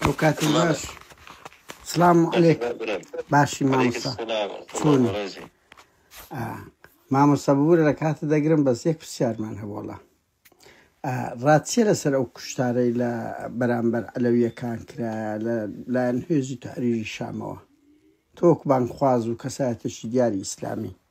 ئەو کاتی باش سلام علیک باشی مامۆستا چۆن مامۆستا ببوورە لە کاتە دەگرم بەس یەک پرسیارمان هەوڵە ڕاتیە لەسەر ئەو کوشتارەی لە بەرامبەر ئەلەویەکان کرا لە لایەن هێزی تاریژی شامەوە تۆک بانخواز و کەسایەتێکی دیاری ئیسلامی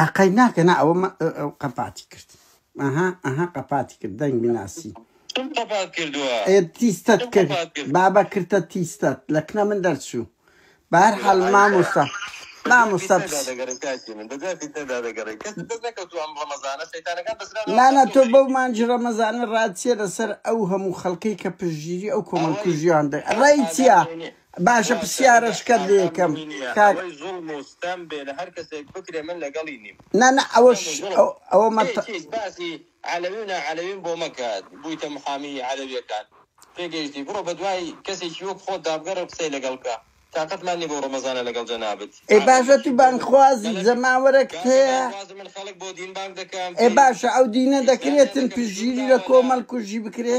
ئاقای ناکە نا ئەوە مە- ئە- ئەو قەپاتی کرد ئەها ئەها قەپاتی کرد دەنگ بناسی تم قەپات کردووە ئێ تیستەت تم کرد قەپات کرد بابە کرتە تیستەت لە کنە من دەرچوو بە هەر حال برا ئەی بە مامۆستا بە دوای مامۆستا فیتنەدا پرسی دەگەڕێ کاکی من بە دوای فیتنەدا دەگەڕێ کەس دەست نەکەوتو ئەم ڕەمەزانە شەیتانەکان بەسرا ناو نانا تۆ چاوتۆی بەو مانج ڕەمەزانە ڕاچیە لەسەر ئەو هەموو خەڵکەی کە پشگیری ئەو کۆمەڵ ئەوەی کوژیان دە ئەو ڕای ئاگا چییە لەوە نییە باشە پسیارەشکەت لێکەم کاک. نا نا ئەوەش ئەوە مەت. ئەی باشە تو بانگخوازی جەماوەرەکت هەیە ئەی باشە ئەو دینە دەکرێتن پشتگیری لە کۆمەڵکوژی بکرێ.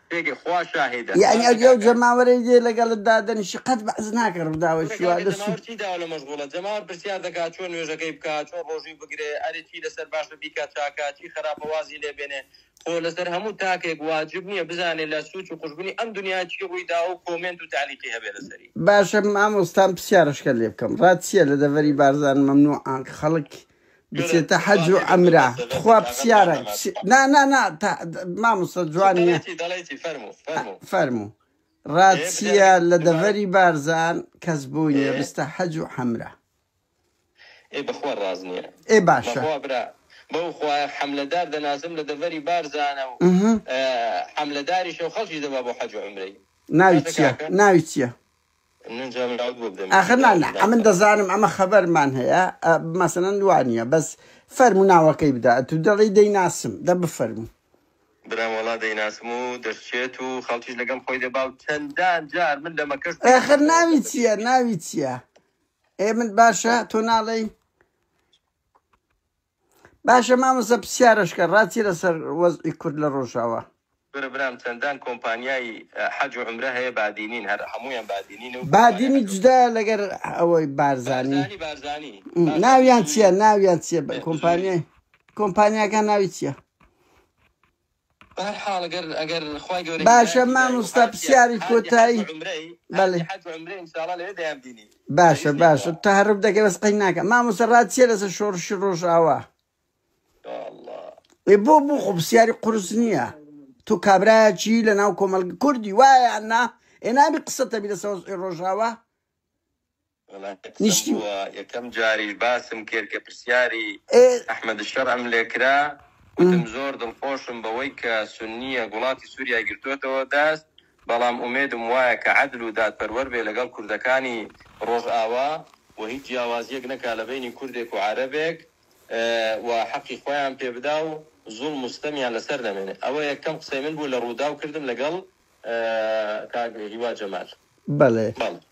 بێگە خوا شاهیدە یەعنی ئەو ئەو جەماوەرەی دێ لەگەڵت دادەنیشی قەت بەعس ناکە ڕوداوە چی وا لە سوود چی داوە لە مەشغوڵە جەماوەر پرسیار دەکات چۆن نوێژەکەی بکات چۆن ڕۆژووی بگرێ ئەرێ چی لەسەر باشە بیکا چاکە چی خراپە وازی لێ بێنێ خۆ لەسەر هەموو تاکێک واجب نییە بزانێ لە سوچ و قوژبنی ئەم دنیا چی ڕووی داوە و کۆمێنت و تەعلیقی هەبێ لەسەری. باشە مامۆستا پسیارەشکە لێ بکەم ڕات چیە لە دەڤەری بارزان مەمنوعە خەڵک بچێتە حەج و عەمرە تخوا پسیارە نا نا نا ماموسە جوان فەرموو ڕاچیە لە دەڤەری بارزان کەس بوو نیە بستە حەج و حەمرە ئێ بەخوا ڕاز نییە ئێ باشە برا بەو خوا حملەدار دەنازم لە دەڤەری بارزانە و حملەداریشە و خەڵکی دەبا بۆ حەج و عمرەی ناوی چیە ناوی چیە ئاخر نا نا ئەمن دەزانم ئەمە خەبەرمان هەیە ئە، مەسەنەن وانە بەس فەرمو ناوەکەی بدا تو دەڵی دەیناسم دە بفەرمو برام وەڵا دەیناسم و دەشچێت و خەڵکیش لەگەڵ خۆی دەبا و چەندان جار من لە مەکەش ئەخر تێناگەم بۆ ناوی دەبەش چییە ناوی چییە ئێ من باشە تۆ ناڵێی باشە مامۆستا پسیارەشکە ڕاچی لەسەر وەزعی کورد لە ڕۆژاوا. برا برام چەندان کۆمپانیای حەج و عمرە هەیە بادینین هەر هەموویان بادینین و بادینی جودایە لەگەر ئەوەی بارزانی بارزانی ناویان چیە ناویان چیە کۆمپانیای کۆمپانیاکان ناوی چیە بەهەرحاڵ ئەگەر ئەگەر خوای گەورە هیدایەتی باشە دایەوە ماموستا هاردی پسیاری هاردی حەج کۆتای و عومرەی هاردی بەلی حەج و عومرەی انشااللە لەوێ دەیانبینی باشە بإذن الله باشە تەهرب دەکەی بەس قەی ناکە ماموستا ڕات چیە لەسە شۆڕشی ڕۆژاوا یااللە ئێ بۆ بۆ خۆ پسیاری قورس نییە تو کابرایە چی لە ناو کۆمەڵ کوردی وایە نا ئێ نابی قسە تەبی لەسە وەزعی ڕۆژاوا وەڵا قسەم نیشتیم. بووە یەکەم جاریش باسم کرد کە پرسیاری ئێ احمد الشرعم لێ کرا گوتم زۆر دڵخۆشم بەوەی کە سونیەک وڵاتی سوریای گرتۆتەوە دەست بەڵام ئومێدم وایە کە عەدل و دادپەروەر بێ لەگەڵ کوردەکانی ڕۆژئاوا و هیچ جیاوازیەک نەکا لە بەینی کوردێک و عەرەبێک و حەقی خۆیان پێ بدا و زوڵم و ستەمیان لەسەر نەمێنێ ئەوە یەکەم قسەی من بوو لە ڕووداو کردم لەگەڵ کاک هیوا جەمال بەڵێ بەڵێ.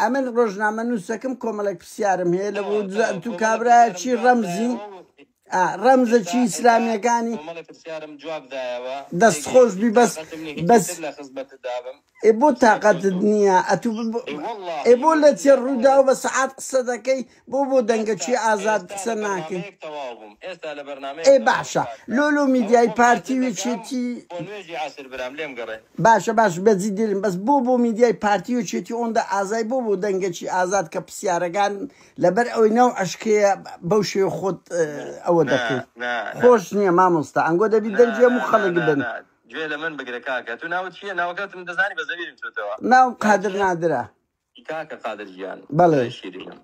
ئەمن ڕۆژنامە نووسەکەم کۆمەڵێک پرسیارم هەیە لە بۆ دوزان تو کابراە چی ڕەمزی ڕەمزە چی ئیسلامیەکانی دەست خۆش بی بەس بەس ئێ بۆ تااقەتت نییە ئەتو ئێ بۆ لە چێ ڕوودا و بە سەعات قسە دەکەی بۆ بۆ دەنگەچی ئازاد قسە ناکەی. ئەی باشە لۆ لۆ میدیای پارتی وێچێتی. باشە باش بەجی دێلم بەس بۆ بۆ میدیای پارتی وێچێتی ئۆندە ئازای بۆ بۆ دەنگەچی ئازاد کە پسیارەگان لەبەر ئەوەی ناو عەشکەیە بەو شێوە خۆت ئەوە دەکەی خۆش نیە مامۆستا ئەنگۆ دەبی دەنگی هەموو خەلک بن. ناوم قادر نادرە. کاکە قادر گیان بەڵێ. برای شیرینم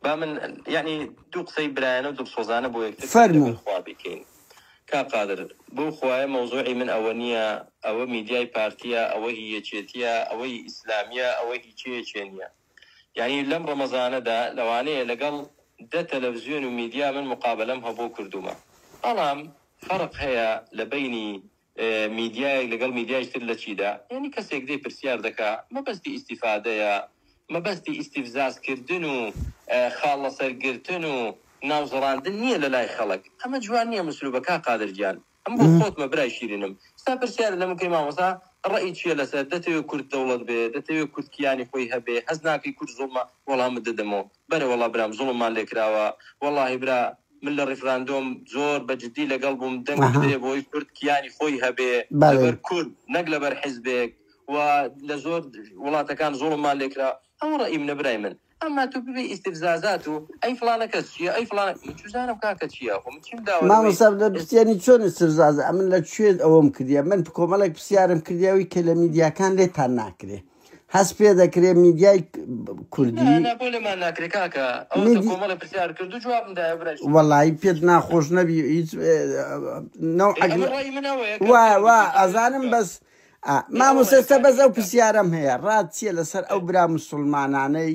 با من یعنی دوو قسەی برایانە و دڵسۆزانە بۆ یەکتر فەرموو. لەگەڵ خوا بکەین کاک قادر بەو خوایە مەوزوعی من ئەوە نییە ئەوە میدیای پارتییە ئەوە هی یەکێتییە ئەوەی ئیسلامییە ئەوە هی کێیە کێ نییە یعنی لەم ڕەمەزانەدا لەوانەیە لەگەڵ دە تەلەڤزیۆن و میدیا من مقابەلەم هەبوو کردوومە بەڵام فەرق هەیە لە بەینی میدیایەک لەگەڵ میدیایش تر لە چیدا یانی کەسێک دێ پرسیار دەکا مەبەستی ئیستیفادەیە مەبەستی ئیستیفزاز کردن و خاڵ لەسەر گرتن و ناو زڕاندن نیە لە لای خەڵک ئەمە جوان نیە مسلوبە کاک قادر گیان ئەمە بۆ خۆتمە برای شیرینم ستا پرسیارت لەمن کەی مامۆستا ڕەئیت چیە لەسەر دەتەوێ کورد دەوڵەت بێ دەتەوێ کورد کیانی خۆی هەبێ هەست ناکەی کورد زوڵمە وەڵامت دەدەمەوە بەرە وەڵا برام زوڵممان لێکراوە وەڵاهی برا من لە ڕیفراندۆم زۆر بە جدی لەگەڵ بووم دەنگت بدرێ بۆی کورد کیانی خۆی هەبێ لەبەر کورد نەک لەبەر حیزبێک و لە زۆر وڵاتەکان زوڵممان لێکرا ئەوە ڕەئی منە برای من ئەمما تۆ ببێ ئیستیفزازات و ئەی فڵانە کەس چییە ئەی فڵانە من چ بزانم کاکە چییە خۆ من چیم داوە لەوەی مامۆستا لە ئێس- پرسیانی چۆن استفزاز ئەمن لە کوێ ئەوەم کردیە من کۆمەڵێک پرسیارم کردیەوەی کە لە میدیاکان لێتان ناکرێ هەست پێ دەکرێ میدیای کوردی وەڵی پێت ناخۆش نەبی ئەزانم بەس مامۆسێستا بەس ئەو پرسیارم هەیە ڕات چیە لەسەر ئەو برا مسلمانانەی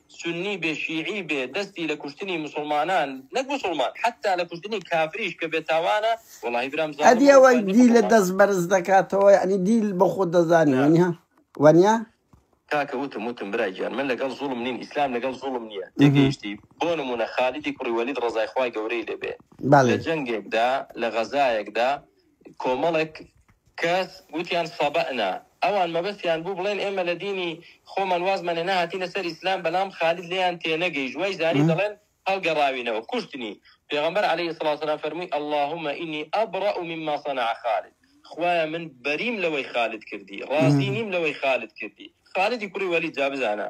سوننی بێ شیعی بێ دەستی لە کوشتنی موسڵمانان نەک موسڵمان حەتا لە کوشتنی کافریش کە بێ تاوانە وەڵاهی برام زاڵمە ئەدی ئەوە وەڵاهی دی لە نەکردوومە دەست بەرز دەکاتەوە یانی دی بە خۆت دەزانی نا وەنیە وەنیە کاکە وتم وتم برا گیان من لەگەڵ زوڵم نیم ئیسلام لەگەڵ زوڵم نییە مهم. تێگەیشتی بۆ نموونە خالیدی کوڕی وەلید ڕەزای خوای گەورەی لێ بێ لە بەڵێ جەنگێکدا لە غەزایەکدا کۆمەڵێک کەس گوتیان سەبەئنا ئەوان مەبەستیان بوو بڵێن ئێمە لە دینی خۆمان وازمان هێنا هاتینە سەر ئیسلام بەلام خالید لێیان تێنەگەیشت وای زانی دەڵێن هەڵگەڕاوینەوە کوشتنی، پێغەمبەر علیە الصلوە والسلام فەرمووی، اللهم انی ابرء مما صنع خالد خوایە من بەریم لەوەی خالد کردی، ڕازی نیم لەوەی خالد کردی، خالیدی کوڕی وەلید جا بزانە.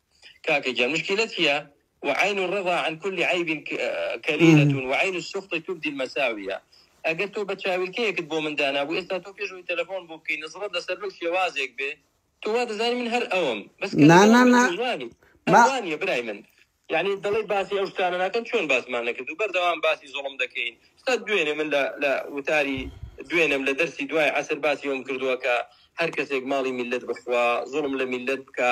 کاکە گیان مشکلە چیە وعین الرضا عن كل عیب کەرینە وعین السخط تبدی المساویە ئەگەر تۆ بە چاویلکەیەکت بۆ من دانابوو ئێستا تۆ پێشوی تەلەفۆن بۆ بکەی نزڕت لەسەر من شێوازێک بێ تۆ وا دەزانی من هەر ئەوم بەس نانانانیە برای من یعنی دەڵی باسی ئەو شتانە ناکەن چۆن باسمان نەکرد و بەردەوام باسی زۆڵم دەکەین ستا دوێنێ من لە وتاری دوێنم لە دەرسی دوای عسر باسی ئەوم کردووە کە هەر کەسێک ماڵی میلت بخوا زۆڵم لە میلت بکە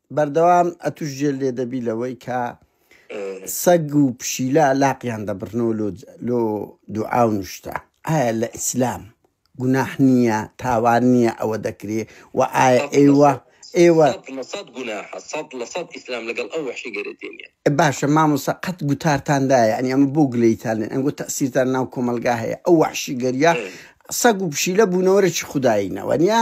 بەردەوام ئەتوش جێل لێ دەبی لەوەی کە سەگ و پشیلە لاقیان دەبرنەوە لۆ لۆ دوعا و نوشتە ئایا لە ئیسلام گوناح نییە تاوان نییە ئەوە دەکرێ و ئایا ئێوە ئێوە ئیسلام لەگەڵ ئەو وحشی گەرێتی نیە باشە مامۆسا قەت گوتارتاندایە ئەنی ئەمە بۆ گلەیتانێن ئەنگۆ تەسیرتان ناو کۆمەلگا هەیە ئەو وحشی گەریا سەگ و پشیلە بوونەوەرەی خودداینەوە نیە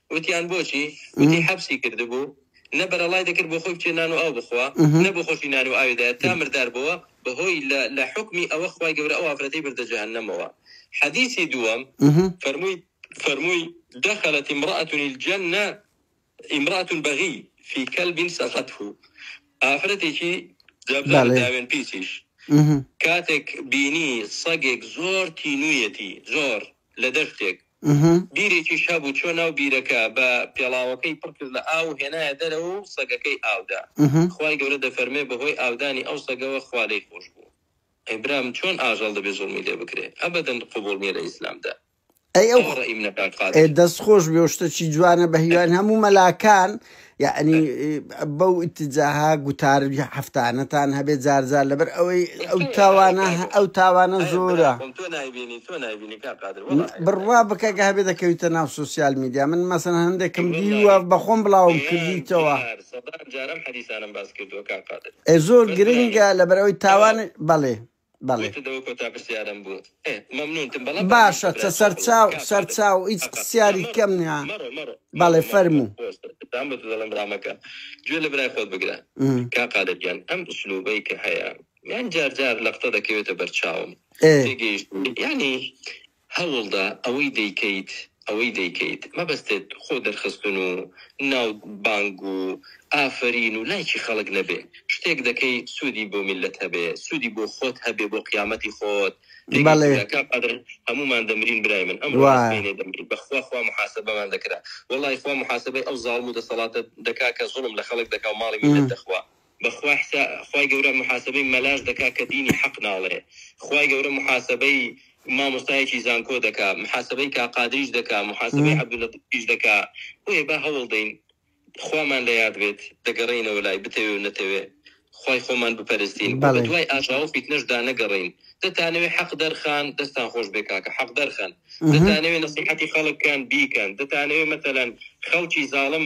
وتیان بۆچی؟ وتی حەپسی کردبوو، نە بەرەڵای دەکرد بۆ خۆی بچێ نان و ئاو بخوا، نە بۆ خۆشی نان و ئاوی دایە تا مردار بۆوە، بەهۆی لە لە حوکمی ئەوە خوای گەورە ئەو ئافرەتەی بردە جەهەنەمەوە. حەدیسی دووەم فەرمووی فەرمووی دەخەلەت امرأة الجنە امرأة بەغی فی کەلب سەقەته ئافرەتێکی جابجا بەڵێ. داوێن پیسیش ئه. کاتێک بینی سەگێک زۆر تینوویەتی زۆر لە دەشتێک بیرێکیش هەبوو چۆ ناو بیرەکە بە پێڵاوەکەی پڕ کرد لە ئاو و هێنایە دەرەوە و سەگەکەی ئاودا خوای گەورە دەفەرموێ بەهۆی ئاودانی ئەو سەگەوە خوا لێی خۆش بوو ئەی برام چۆن ئاژەڵ دەبێ زوڵمی لێ بکرێ ئەبەدەن قبوڵ نیە لە ئیسلامدا ئەی ئەو ئەوە ڕەئی منە کاک قادر. ئەی دەست خۆش بێ و شتەکی جوانە بەهیوان هەموو مەلاکان یەعنی بەو ئیتجاهە گوتار هەفتانەتان هەبێ جار جار لەبەر ئەوەی ئەو تاوانە ئەو تاوانە زۆرە بڕوا بکە گە هەبێ دەکەویتە ناو سوسیال میدیا من مەسن هەندێکم دیوە بەخۆم بڵاوم کردیتەوە زۆر گرنگە لەبەر ئەوی تاوان بەڵێ بەڵێ. باشە چە سەرچاو سەرچاو هیچ پرسیاری کەم نیە بەڵێ فەرموو. ئێ. هەوڵدە ئەوەی دەیکەیت ئەوەی دەیکەیت مەبەستێت خۆ دەرخستن و ناو بانگ و ئافەرین و لایکی خەڵک نەبێ شتێک دەکەی سودی بۆ میللەت هەبێ سودی بۆ خۆت هەبێ بۆ قیامەتی خۆت تێگەی بەڵێ. سوودە کاک قادر هەموومان دەمرین برای من ئەمڕۆ وا. سبەینێ دەمرین بەخوا خوا محاسەبەمان دەکرا وەڵای خوا محاسەبەی ئەو زاڵم و دەسەڵاتە دەکا کە زوڵم لە خەڵک دەکا و ماڵی میللەت دەخوا بەخوا حسا خوای گەورە محاسەبەی مەلاش دەکا کە دینی حەق ناڵێ خوای گەورە محاسەبەی مامۆستایەکی زانکۆ دەکا محاسەبەی کا قادریش دەکا محاسەبەی عەبدول لەتیفیش دەکا بۆیە با هەوڵ دەین خوامان لە یاد بێت دەگەڕێینەوە لای بتەوێ و نەتەوێ خوای خۆمان بپەرستین و بە بەڵێ دوای ئاژاوە و فیتنەش دا نەگەڕێین دەتانەوێ حەق دەرخان دەستان خۆش بێ کاکە حەق دەرخەن ئەها دەتانەوێ نەسیحەتی خەڵک کەن بیکەن دەتانەوێ مەتەلەن خەڵکی زاڵم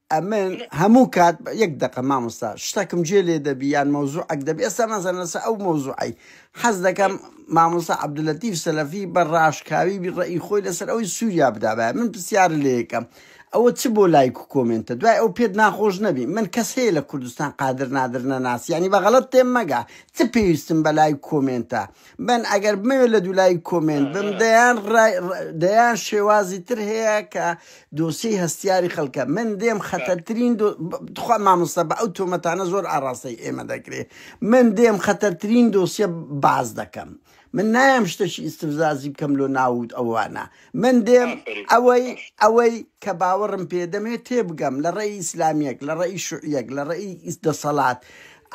ئەمن هەموو کات یەک دەقە مامۆستا شتەکم جێ لێ دەبی یان مەوزوعەک دەبی ئێستا نازان لەسە ئەو مەوزوعی حەز دەکەم مامۆستا عبدولەتیف سەلەفی بە ڕاشکاوی بی ڕێی خۆی لەسەر ئەوەی سووریا بدابە من پرسیار لێ یەکەم ئەوە چ بۆ لایک و کۆمنتە دوای ئەو پێت ناخۆش نەبی من کەس هەیە لە کوردستان قادر نادر نەناسی ینی بەغڵت تێم مەگا چ پێویستم بە لای کۆمنتە من ئەگەر بمەوێت لە دوولای کۆمێنت بم دەیان دەیان شێوازی تر هەیە کە دۆسی هەستیاری خەڵکە من دێم خەتەرترین دخوا مامۆستا بە ئەو تۆمەتانە زۆر ئاراستەی ئێمە دەکرێت من دێم خەتەرترین دۆسیە باز دەکەم من نایم شتەشی ئیسفزازی بکەم لۆ ناوت ئەوانە من دێم ئافەرین ئەوەی ئافەرین ئەوەی کە باوەڕم پێیە دەمەوێت تێبگەم لە ڕێی ئیسلامیەک لە ڕێی شوعیەک لە ڕێی ئیس دەسەڵات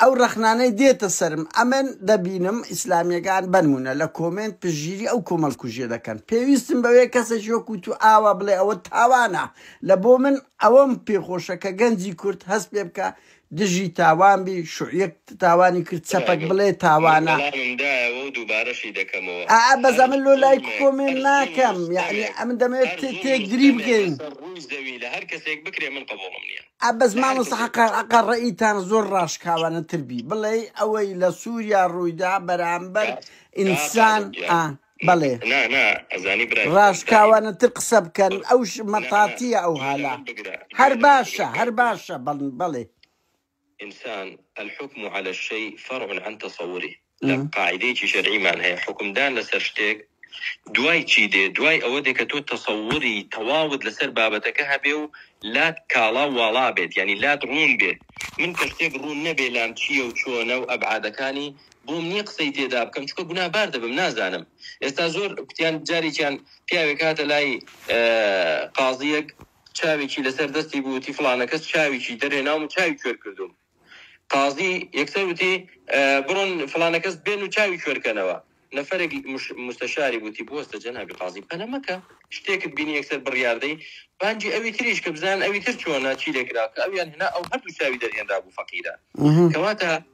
ئەو ڕەخنانەی دێتە سەرم ئەمن دەبینم ئیسلامیەکان بەنمونە لە کۆمێنت پشگیری ئەو کۆمەڵکوژیە دەکەن پێویستم بەوەیە کەسێکی وەکو تو ئاوا بڵێ ئەوە تاوانە لە بۆ من ئەوەم پێخۆشە کە گەنجی کورد هەست پێ بکە دژی تاوان بی شوعیەک تاوانی کرد چەپەک بڵێ تاوانە. وەڵامم دایەوە و دووبارەشی دەکەمەوە. ئا ئا بەس ئەمن لۆ لایک و کۆمێنت ناکەم یەعنی ئەمن دەمەوێت تێک دری بکەین. هەر زوو مستەمێک لەسەر ڕووی زەوی لە هەر کەسێک بکرێ من قبوڵم نیە. ئا بەس مامۆستا حەقە حەقە ڕەئیتان زۆر ڕاشکاوانە تر بی بڵێی ئەوەی لە سوریا ڕوویدا بەرامبەر ئینسان ئا. بەڵێ ڕاشکاوانەتر قسە بکەن ئەو مەتاتیە ئەو هالا هەر باشە هەر باشە بەڵ بەڵێ ئینسان الحكم على الشيء فرع عن تصوره لە قاعدەیەکی شەرعیمان هەیە حکومدان لەسەر شتێک دوای چی دێ دوای ئەوە دێ کە تۆ تەسەوری تەواوت لەسەر بابەتەکە هەبێ و لات کاڵا واڵا بێت ینی لات ڕوون بێت من کە شتێک ڕوون نەبێ لام چییە و چۆنە و ئەبعادەکانی بۆم نیە قسەی تێدا بکەم چونکە گوناه بار دەبم نازانم ئێستا زۆر کوتیان جارێکیان پیاوێک هاتە لای قازیەک چاوێکی لەسەر دەستی بووتی فلانە کەس چاویی دەرێ ناوم و چاوی کوێر کردوم قازی یەکسەر وتی بڕۆن فلانە کەس بێن و چاوی کوێرکەنەوە نەفرێک مستەشاری بوتی بۆستە جەنابی قازی پەلە مەکە شتێکت بینی یەکسەر بڕاردەی بانجی ئەوی تریش کە بزان ئەوی تر چۆنە چی لێکرا کە ئەویان هنا ئەو هەردوو چاوی دەرهێنرا بوو فەقیرە کەواتە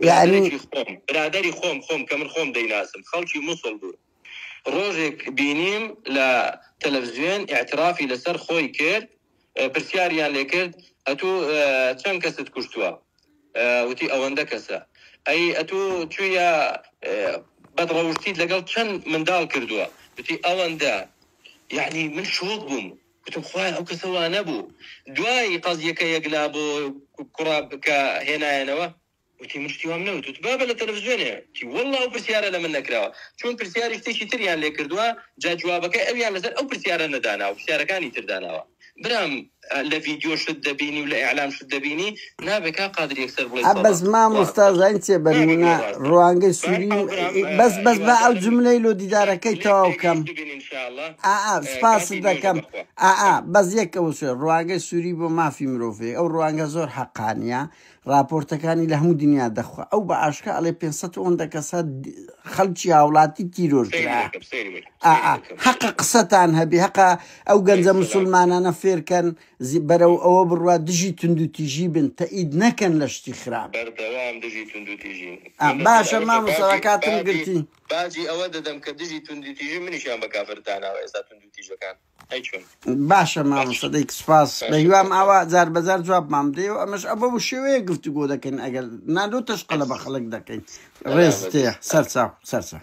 برادەرێکی خۆم برادەری خۆم خۆم کە من خۆم دەیناسم خەڵکی موسڵ بوو ڕۆژێک بینیم لە تەلەفزیۆن ئیعترافی لەسەر خۆی کرد پرسیاریان لێ کرد ئەتو چەند کەست کوشتووە وتی ئەوەندە کەسە ئەی ئەتو چویە بەد ڕەوشتیت لەگەڵ چەند منداڵ کردووە وتی ئەوەندە یعنی من شوک بووم گوتم خوایە ئەو کەسە وانەبوو. دوای قەزیەکە یەکلا بۆ کوڕە کە هێنایەنەوە وتی من شتی وام نەوت. وت بابە لە تەلەفزیۆنێ. وتی وەڵڵا ئەو پرسیارە لە من نەکراوە. چوون پرسیاری شتێکی تریان لێ کردووە جا جوابەکەی ئەویان لەسەر ئەو پرسیارە نەداناوە پرسیارەکانی تر داناوە. برام لە ڤیدیۆ شت دەبینی و لە ئیعلام شت دەبینی. نابێ کا قادر یەکسەر بڵێ سەڵا بەس مامۆستا زین چێ بەرمونە ڕوانگەی سووری بەس بەس بە ئەو جملەی لۆ دیدارەکەی تەواو کەم ئا سپاس دەکەم ئا بەس یەک ئەوش ڕوانگەی سووری بۆ مافی مرۆڤێ ئەو ڕوانگە زۆر حەقانە راپۆرتەکانی لە هەموو دنیا دەخوا ئەو بە ئاشکا ئەڵێ 500 ئۆن دەکەسە خەلکی هاوڵاتی تیرۆر حەقە قسەتان هەبی حەقە ئەو گەنجە مسلمانانە فێرکەن. بەرەو ئەوە بڕوا دژی توندوتیژی بن تەئید نەکەن لە شتی خراپ. بەردەوام دژی توندوتیژین. ئا باشە مامۆستا با کاتم گرتی. باجی ئەوە دەدەم کە دژی توندوتیژین منیشیان بە کافر داناوە ئێستا توندوتیژەکان ئەی چون. باشە مامۆستا دەیک سپاس بە هیوام ئاوا جار بە جار جوابمان بدەیەوە ئەمەش ئەبە بە شێوەیەک گفتوگۆ دەکەین ئەگەر نا لۆ تەشقەلە بە خەڵک دەکەین ڕێزت هەیە سەرچاو سەرچاو.